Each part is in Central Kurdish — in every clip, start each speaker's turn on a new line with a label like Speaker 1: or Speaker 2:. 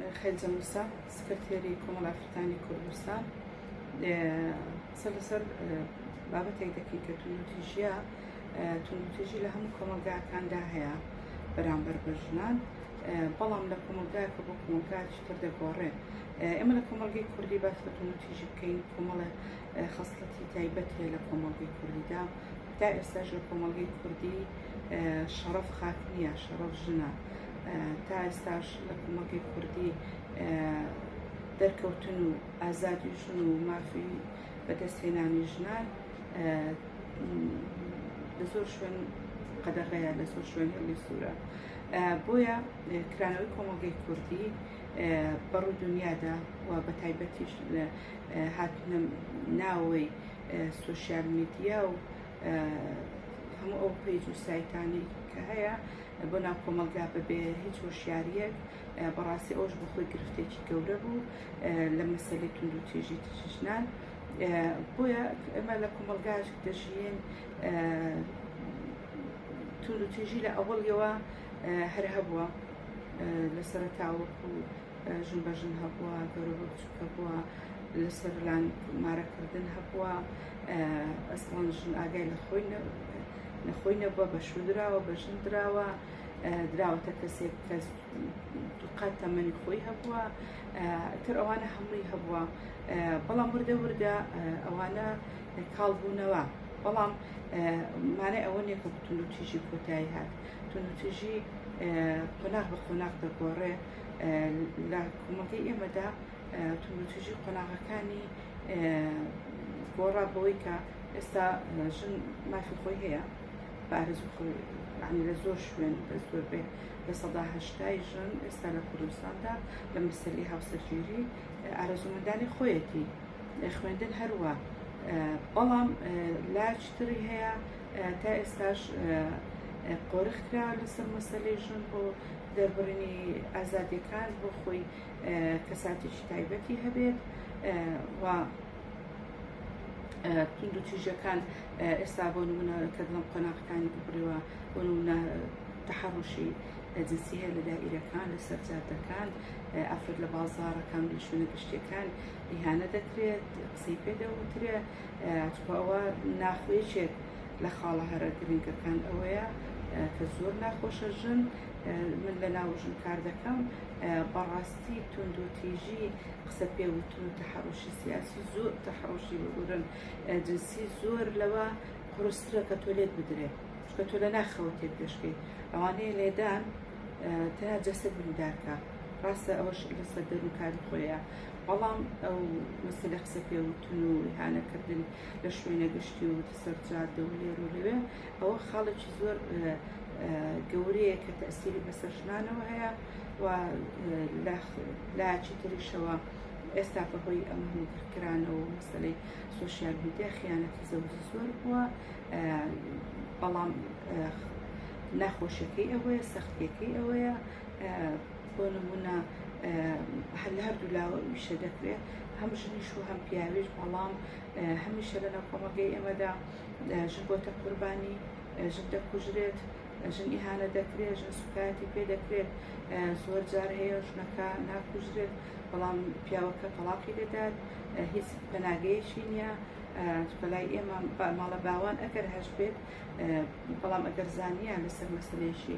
Speaker 1: من خەلجە موسا سکرتێری کۆمەڵ ئافرەتانی کوردستان قسە لەسەر بابەتێک دەکەین کە توندوتیژیە توندوتیژی لە هەموو کۆمەلگاکاندا هەیە بەرامبەر بە ژنان بەڵام لە کۆمەلگای کە بۆ کۆمەلگاچی تر دەگۆڕێ ئێمە لە کۆمەلگەی کوردی باس لە توندوتیژی بکەین کۆمەڵە خەسڵەتی تایبەت هەیە لە کۆمەلگەی کوردیدا تا ئێستاش لە کۆمەلگەی کوردی شەڕەف خاک نییە شەڕەف ژنە تا ئێستاش لە کۆمەڵگەی کوردی دەرکەوتن و ئازادی ژن و مافی بەدەستهێنانی ژنان لە زۆر شوێن قەدەغەیە لە زۆر شوێن هێڵی سوورە بۆیە کرانەوەی کۆمەڵگەی کوردی بەڕوو دنیادا و بە تایبەتیش هاتنە ناوەوەی سوسیال میدیا و هەموو ئەو پەیج و سایتانی کە هەیە بۆ ناو کۆمەلگا بەبێ هیچ هۆشیاریەک بەڕاستی ئەوش بەخۆی گرفتێکی گەورە بوو لە مەسەلی تونند و تێژی تشنان بۆیە ئەمە لە کۆمەلگاش دەژین تونند و تێژی لە ئەوەڵیەوە هەر هەبووە لە سەرتاوەکو ژن بە ژن هەبووە گەورە بە بچووکە بووە لەسەر لان مارەکردن هەبووە ئەسڵان ژن ئاگای لە خۆی نەخۆی نەبووە بە شودراوە بە ژن دراوە دراوەتە کەسێک کە دوقات تەمەنی خۆی هەبووە تر ئەوانە هەمووی هەبووە بەڵام وردە وردە ئەوانە کاڵ بوونەوە بەڵام مانای ئەوە نیە کە بتون و تیژی کۆتایی هات تون و تیژی قۆناغ بە قۆناغ دەگۆڕێ لە کۆمەڵگەی ئێمەدا توندوتیژی قۆناغەکانی گۆڕا بەوەی کە ئێستا ژن مافی خۆی هەیە بارزوو خۆی عنی لە زۆر شوێن بە زۆر بێ لە سەدا هەشتای ژن ئێستا لە کوردستاندا لە مەسەلی هاوسەرگیری ئارەزومەندانی خۆیەتی خوێندن هەروە بەڵام لاچتری هەیە تا ئێستاش قۆرخکرا لەسەر مەسەلی ژن بۆ دەربڕینی ئازادیەکان بۆ خۆی کەساتێکی تایبەتی هەبێت و توند و تیژەکان ئێستا بۆ نمونە کە دڵم قۆناغەکانی ببڕیوە بۆ نمونە تەحڕشی جنسی هەیە لە دائیرەکان لە سەرجادەکان ئەفرەت لە بازارەکان لە شوێنە گشتیەکان ئیهانە دەکرێت قسەی پێ دەوترێت چکەوە ناخوێچێت لە خاڵە هەرە گرنگەکان ئەوەیە کە زۆر ناخۆشە ژن من لە ناو ژن کار دەکەم بەڕاستی تونند و تیژی قسە پێوتن و تەحڕۆشی سیاسی زۆر تەحڕۆشی بگورن جنسی زۆر لەوە قرسترە کە تۆ لێت بدرێت چکە تۆ لە ناخەوە تێک دەشکەی ئەوانەیە لێدان تەنها جەسەد بریدارکە ڕاستە ئەوەش لەسەر دەروکاری خۆیە بەڵام ئەو مەسەلە قسە پێوتن و هانەکردن لە شوێنە گشتی و سەر جادە و لێر و لەوێ ئەوە خاڵێکی زۆر گەورەیە کە تەسیری بەسەر ژنانەوە هەیە و لاچی تریشەوە ئێستا بەهۆی ئەم هەمووکرانەوە مەسلەی سوسیال میدیا خیانەتی زەوجی زۆر بووە بەڵام ناخۆشەکەی ئەوەیە سەختیەکەی ئەوەیە بۆ نموونە هەر لە هەردوو لاوە ئیشە دەکرێت هەم ژنیش و هەم پیاویش بەڵام هەمیشە لە ناوکۆمەگەی ئێمەدا ژن بۆتە قوربانی ژن دەکوژرێت ژن ئیهانە دەکرێت ژن سوکایەتی پێ دەکرێت زۆر جار هەیە ژنەکە ناکوژرێت بەڵام پیاوەکە تەڵاقی دەدات هیچ پەناگەیەکی نییە بەلای ئێمە ماڵە باوان ئەگەر هەش بێت بەڵام ئەگەر زانیان لەسەر مەسلێکی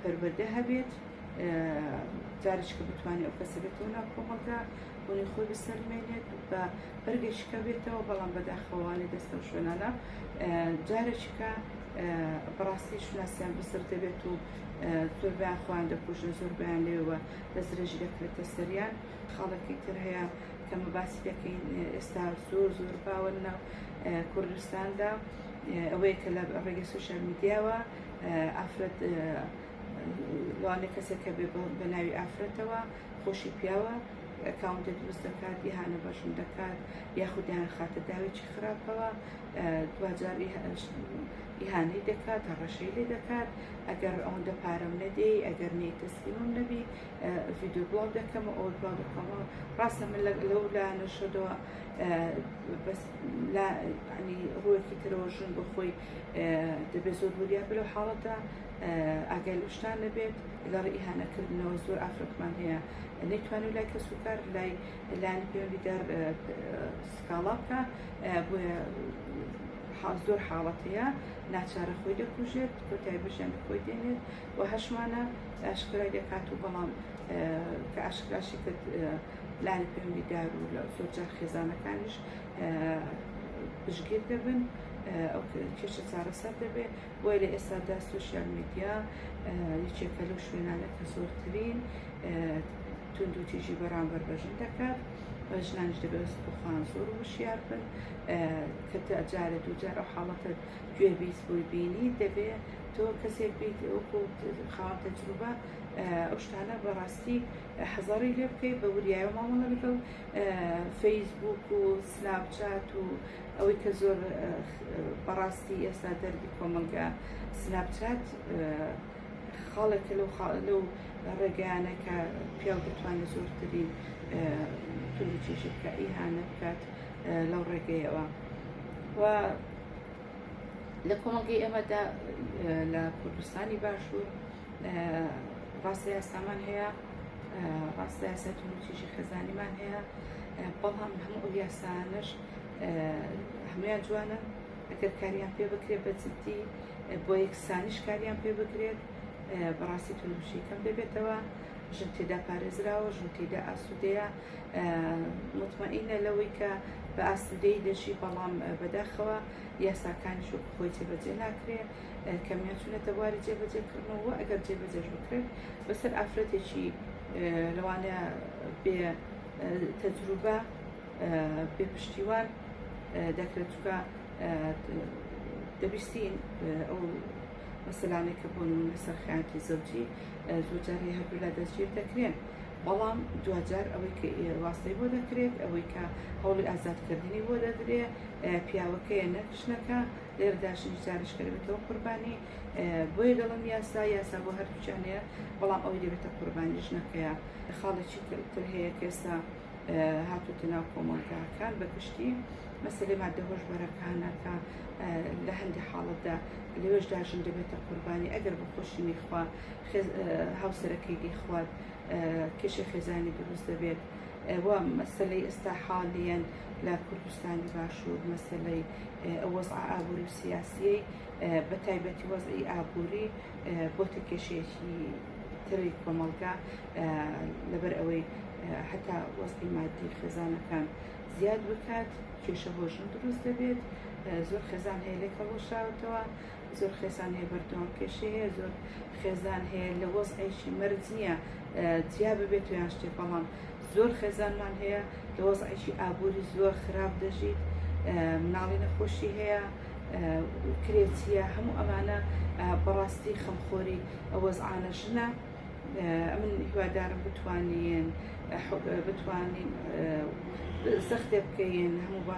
Speaker 1: پەروەردە هەبێت جارشکە بتوانێت ئەو کەسە بێتەوە ناو کۆمەڵگا بوونی خۆی بسەلمێنێت بە بەرگەشکە بێتەوە بەڵام بەداخەوالی دەستە و شوێنانە جارێکیکە بەڕاستی شوناسیان بسر دەبێت و زۆر بیان خۆیان دەکوژن زۆر بیان لێوە دەسترێژی دەکرێتە سەریان خاڵێکی تر هەیە کەمە باسی دەکەین ئێستا زۆر زۆر باوە ناو کوردستاندا ئەوەیە کە لە ڕێگە سوشال میدیاوە ئافرەت لەوانەیە کەسێک کە بێ بە ناوی ئافرەتەوە خۆشی پیاوە ئەکاونتێک دروست دەکات ئیهانە بەشم دەکات یاخودیان خاتە داوێکی خراپەوە دواجار ئیهانەی دەکات هەڕەشەی لێ دەکات ئەگەر ئەوەندە پارەم نەدەی ئەگەر نەی تەسلیمم نەبی ڤیددیو بڵاو دەکەم ئەو بڵاو دەکەمەوە ڕاستە من لەو لایەنە شەدەوە بەس ڕوەکی ترەوە ژن بەخۆی دەبێت زۆر وریابێت لەو حاڵەتە ئاگای لە شتان نەبێت لەڕ ئیهانەکردنەوە زۆر ئافرەتمان هەیە نەیتوانێت لای کەس و کار لای لایانی پەیوەندیدار سکاڵا بکە بۆیە حاڵ زۆر حاڵەت هەیە ناچارە خۆی دەکوژێت کۆتای بژیان خۆی دێنێت و هەشمانە ئاشکرای دەکات و بەڵام کە ئاشکراشی کرد لانی پەیوەندی دار و لە زۆر جار خێزانەکانیش پشگیر دەبن ئەو کێشە چارەسەر دەبێت بۆی لە ئێستادا سوسیال میدیا یەکێکە لەو شوێنانە کە زۆرترین تونند و تیژی بەرامبەر بەژن دەکات ژنانش دەبێت بخوان زۆر وشیار بن کە جارە دووجار ئەو حاڵەتە گوێ بیست بۆی بینی دەبێت تۆ کەسێک بیت وەکو خاوەن تەجروبە ئەو شتانە بەڕاستی حەزەڕی لێ بکەی بە وریایەوە مامەڵە بکە و فەیسبووک و سناپ چات و ئەوەی کە زۆر بەڕاستی ئێستا دەرگی کۆمەڵگا سناپ چات خاڵێکە لەو لەو ڕێگەیانە کە پیاو دەتوانێت زۆرترین تولو چێشی بکە ئیهانە بکات لەو ڕێگەیەوە و لە کۆمەڵگەی ئێمەدا لە کوردستانی باشوور ڕاستە یاسامان هەیە ڕاستە یاسای توندوتیژی خێزانیمان هەیە بەڵام هەموو ئەو یاسانش هەمویان جوانە ئەگەر کاریان پێ بکرێت بە جددی بۆ یەکسانیش کاریان پێ بکرێت بەڕاستی توندوشی کەم دەبێتەوە ژن تێدا پارێزراوە ژن تێدا ئاسوودەیە مطمئینە لەوەی کە بە ئاسوودەی دەژی بەڵام بەداخەوە یاساکانیش خۆی جێبەجێ ناکرێت کەمیان چونەتە بواری جێبەجێکردنەوە و ئەگەر جێبەجێش بکرێت بەسەر ئافرەتێکی لەوانەیە بێ تەجروبە بێ پشتیوان دەکرێت چکە دەبیستین ئەو مەسەلانێک کە بۆن من لەسەر خیانەتی زەوجی زۆجاری هەردوولا دەستگیر دەکرێن بەڵام دوجار ئەوەی کە واستەی بۆ دەکرێت ئەوەی کە هەوڵی ئازادکردنی بۆ دەدرێت پیاوەکەیە نەکشنەکە لێرەداش ویستاریش کە دەبێتەوە قوربانی بۆیە دەڵم یاسا یاسا بۆ هەردووچیان هەیە بەڵام ئەوەی دەبێتە قوربانی ژنەکەیە خاڵێکی تر هەیە کێستا هاتوتە ناو کۆمەڵگاکان بە گشتی مەسلەی مادە هۆشبەرەکانەکە لە هەندی حاڵەتدا لەوێشدا ژن دەبێتە قوربانی ئەگەر بە خۆشی نیخوا هاوسەرەکەی دیخوارد کێشە خێزانی دروست دەبێت ئەوە مەسلەی ئێستا حاڵیان لە کوردستانی باشوور مەسەلەی ئەو وەزعە ئابووری و سیاسییەی بە تایبەتی وەزعی ئابووری بۆتە کێشەیەکی تری کۆمەڵگا لەبەر ئەوەی حتا وەزعی مادی خێزانەکان زیاد بکات کێشە هۆژن دروست دەبێت زۆر خێزان هەیە لێک هەڵوەشاوتەوە زۆر خێزان هەیە بەردەوام کێشەی هەیە زۆر خێزان هەیە لە وەزعیشی مەرج نییە جیا ببێت یان شتێ بەڵام زۆر خێزانمان هەیە لە وەزعیشی ئابووری زۆر خراپ دەژیت مناڵی نەخۆشی هەیە کرێچیە هەموو ئەمانە بەڕاستی خەمخۆری ئەوەزعانە ژنە من هیوادارم بتوانین بتوانین سەختێ بکەین هەموو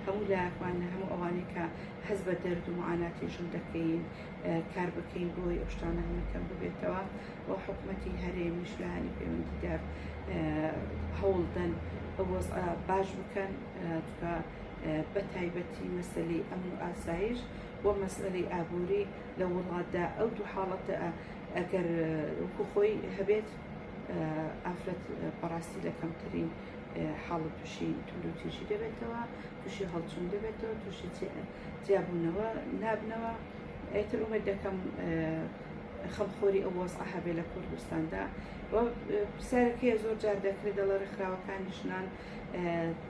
Speaker 1: هەموو لاکمان هەموو ئەوانەی کە هەست بە دەرد و معاناتی ژن دەکەین کار بکەین بۆی ئەو شتانە هەمووی کەم ببێتەوە و حکومەتی هەرێمیش لە هەنی پەیوەندیدار هەوڵدەن ئەو وەزعە باش بکەن تکا بە تایبەتی مەسلەی ئەمن و ئاسایش و مەسلەی ئابووری لە وڵاتدا ئەو دوو حاڵەتە ئەگەر وەکو خۆی هەبێت ئافرەت بەڕاستی لە کەمترین حاڵەت تووشی توندوتیژی دەبێتەوە توشی هەڵچون دەبێتەوە توشی جیابونەوە نابنەوە ئیتر ئومێد دەکەم خەمخۆری ئەو وەزعە هەبێ لە کوردستاندا و پرسیارەکەی زۆر جار دەکرێت دەڵە ڕێکخراوەکانی ژنان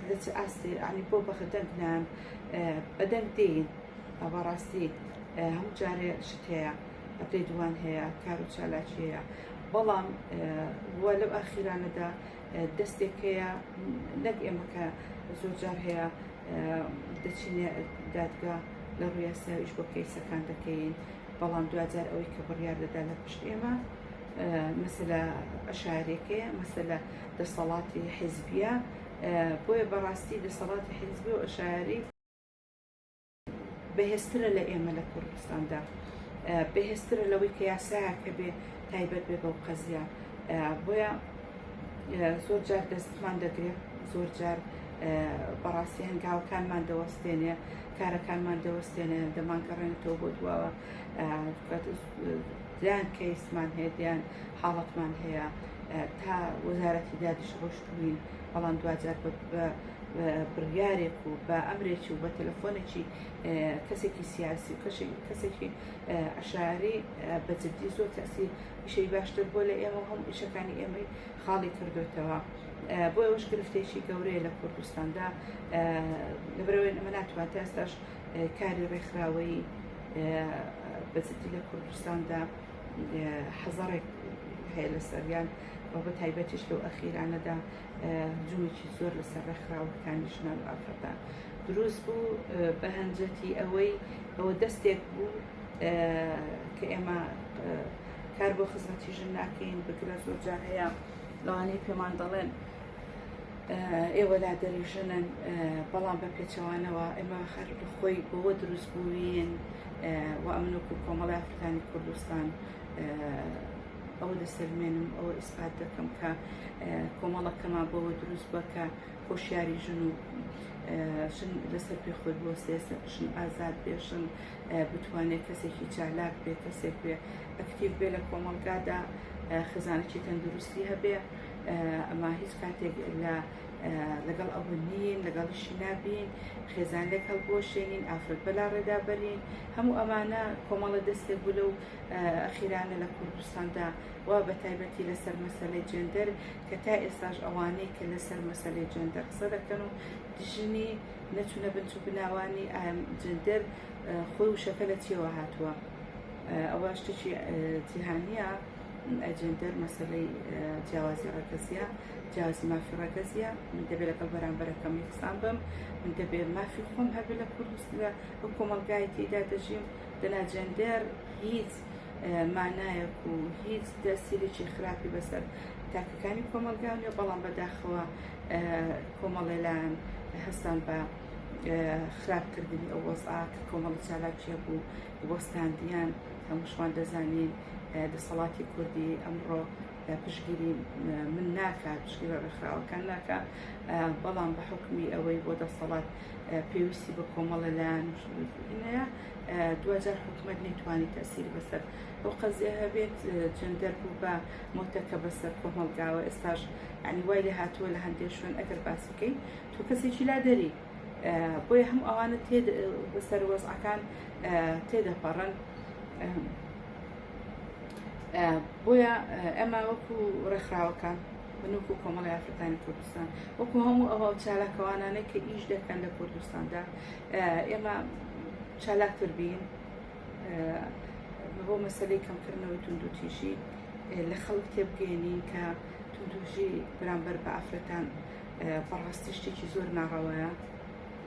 Speaker 1: لە چ ئاستێ ئەنی بۆ بەخدەنگنان بەدەنگ دێین ئەوە ڕاستی هەموو جارێ شت هەیە ئەپێ دووان هەیە کار و چالاکی هەیە بەڵام وە لەو ئاخیرانەدا دەستێک هەیە نەک ئێمە کە زۆر جار هەیە دەچینە دادگا لە ڕویاساویش بۆ کەیسەکان دەکەین بەڵام دوجار ئەوەی کە بڕیار دەدا لە پشت ئێمە مەسەلا عشارەکەیە مەسەلا دەسەڵاتی حیزبیە بۆیە بەڕاستی دەسەڵاتی حیزبی و عشاری بەهێزترە لە ئێمە لە کوردستاندا بەهێزترە لەوەی کە یاسایەک هەبێ تایبەت بێ بەو قەزیە بۆیە زۆر جار دەستمان دەگرێت زۆر جار بەڕاستی هەنگاوەکانمان دەوەستێنێ کارەکانمان دەوەستێنێ دەمانگەڕێنێتەوە بۆ دواوە دیان کەیسمان هەیە دیان حاڵەتمان هەیە تا وەزارەتی دادیش ڕۆشتبووین بەڵام دوجار بە بە بڕیارێک و بە ئەمرێکی و بە تەلەفۆنێکی کەسێکی سیاسی و کەشێک کەسێکی عشاری بە جددی زۆر تەسی ئیشەی باشتر بۆ لە ئێمە هەم ئیشەکانی ئێمەی خاڵی کردوێتەوە بۆ ئەوش گرفتێکی گەورەیە لە کوردستاندا لەبرەوەی ئەمە ناتوان تا ئێستاش کاری ڕێکخراوەی بە جددی لە کوردستاندا حەزەڕێک هەیە لە سەریان و بە تایبەتیش لەو ئەخیرانەدا جووێکی زۆر لەسەر ڕێکخراوەکانی ژنان و ئافرەتان دروست بوو بە هەنجەتی ئەوەی ئەوە دەستێک بوو کە ئێمە کار بۆ خزمەتی ژن ناکەین بگرە زۆر جار هەیە لەوانەی پێمان دەڵێن ئێوە لا دەریژنن بەڵام بە پێچەوانەوە ئێمە خەر خۆی بۆوە دروست بووین و ئەمنۆک و کۆمەڵی ئافرەتانی کوردستان ئەوە دەسەلمێنم ئەوە ئیسپات دەکەم کە کۆمەڵەکەمان بەوە دروست بە کە خۆشیاری ژن و ژن لەسەر پێ خۆی بۆ سێسن ژن ئازاد بێژن بتوانێت کەسێکی چالاک بێ کەسێک بێ ئەکتیو بێ لە کۆمەڵگادا خزانێکی تەندروستی هەبێ ئەما هیچ کاتێک لە لەگەڵ ئەوە نین لەگەڵیشی نابین خێزانێک هەڵبۆشێنین ئافرەت بەلا ڕێدابەرین هەموو ئەمانە کۆمەڵە دەستێک بوو لەو ئەخیرانە لە کوردستاندا و بە تایبەتی لەسەر مەسەلەی جێندەر کە تا ئێستاش ئەوانەی کە لەسەر مەسەلەی جێندەر قسە دەکەن و دژنی نەچوونە بنچ و بناوانی جێندەر خۆی وشەکە لە چیەوە هاتووە ئەوە شتێکی جیهانیە ئەجێندەر مەسلەی جیاوازی ڕەگەزیە جیاوازی مافی ڕەگەزیە من دەبێت لەگەڵ بەرامبەرەکەم یەکسان بم من دەبێت مافی خۆم هەبێت لە کوردستدا ئەو کۆمەلگایەتیدا دەژیم دەنا جێندەر هیچ مانایەک و هیچ تەسیرێکی خراپی بەسەر تاکەکانی کۆمەلگا نیە بەڵام بەداخەوە کۆمەڵێ لایەن هەستان بە خراپکردنی ئەو وەزعا کە کۆمەڵی چالاکیە بوو وەستاندیان هەمووشمان دەزانین دەسەڵاتی کوردی ئەمڕۆ پشگیری من ناکات پشگیرە ڕێکخراوەکان ناکە بەڵام بە حکمی ئەوەی بۆ دەسەڵات پێویستی بە کۆمەڵە لایەن و شوێنکردن هەیە دواجار حکومت نەیتوانی تەسیر بەسەر ئەو قەزیە هەبێت جندەر بوو بە مۆتەکە بەسەر کۆمەڵگاوە ئێستاش ئەنی وای لە هاتووە لە هەندێک شوێن ئەگەر باس بکەین تۆ کەسێکی لا دەری بۆیە هەم ئەوانە تێ بەسەر وەزعەکان تێدەپەڕن بۆیە ئەمە وەکو ڕێکخراوەکان من وەکو کۆمەڵی ئافرەتانی کوردستان وەکو هەموو ئەو چالاکەوانانەی کە ئیش دەکەن لە کوردستاندا ئێمە چالاکتر بین بۆ مەسلەی کەمکردنەوەی توندوتیژی لە خەڵک تێبگەێنین کە توندوژی برامبەر بە ئافرەتان بەڕاستی شتێکی زۆر ناڕەوەیە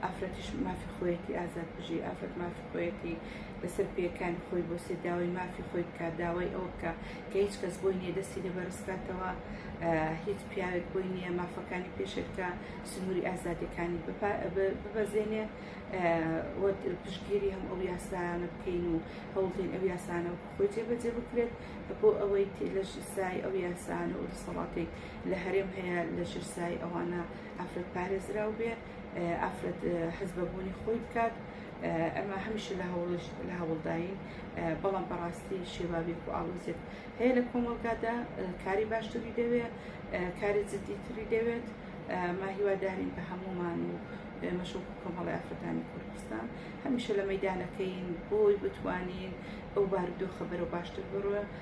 Speaker 1: ئافرەتیش مافی خۆیەتی ئازاد بژی ئافرەت مافی خۆیەتی لەسەر پێکان خۆی بۆ سێداوای مافی خۆی بکات داوای ئەو بکە کە هیچ کەس بۆی نیە دەستی لێ بەرزکاتەوە هیچ پیاوێک بۆی نیە مافەکانی پێشێلکە سنووری ئازادەکانی ببەزێنێ پشتگیری هەم ئەو یاسایانە بکەین و هەوڵین ئەو یاسانە خۆی جێبەجێ بکرێت بۆ ئەوەی لە ژسای ئەو یاسانە و دەسەڵاتێک لە هەرێم هەیە لە ژسای ئەوانە ئافرەت پارێزراو بێ ئافرەت هەست بە بوونی خۆی بکات ئەمە هەمیشە لە هەوڵش لە هەوڵداین بەڵام بەڕاستی شێوابێک و ئاڵۆزێک هەیە لە کۆمەڵگادا کاری باشتری دەوێت کاری جددیتری دەوێت ماهیوادارین بە هەمومان و مەشۆک کۆمەڵی ئافرەتانی کوردستان هەمیشە لە مەدانەکەین بۆی بتوانین ئەو بارودۆخە بەرەو باشتر بڕە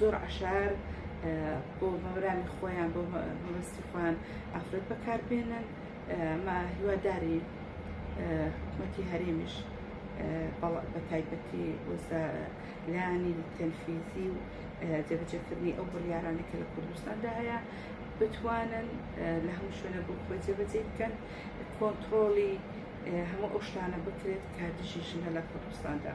Speaker 1: زۆر عشار بۆ مەبرامی خۆیان بۆ مەبەستی خۆیان ئافرەت بەکاربێنن ما هیواداری حکومەتی هەرێمیش بە تایبەتی لانی تەنفیزی و جێبەجێکردنی ئەو بڕیارانە کە لە کوردستاندا هەیە بتوانن لە هەموو شوێنە بۆ خۆی جێبەجێ بکەن کۆنتترۆڵی هەموو ئەو شتانە بکرێت کە دژی ژنە لە کوردستاندا.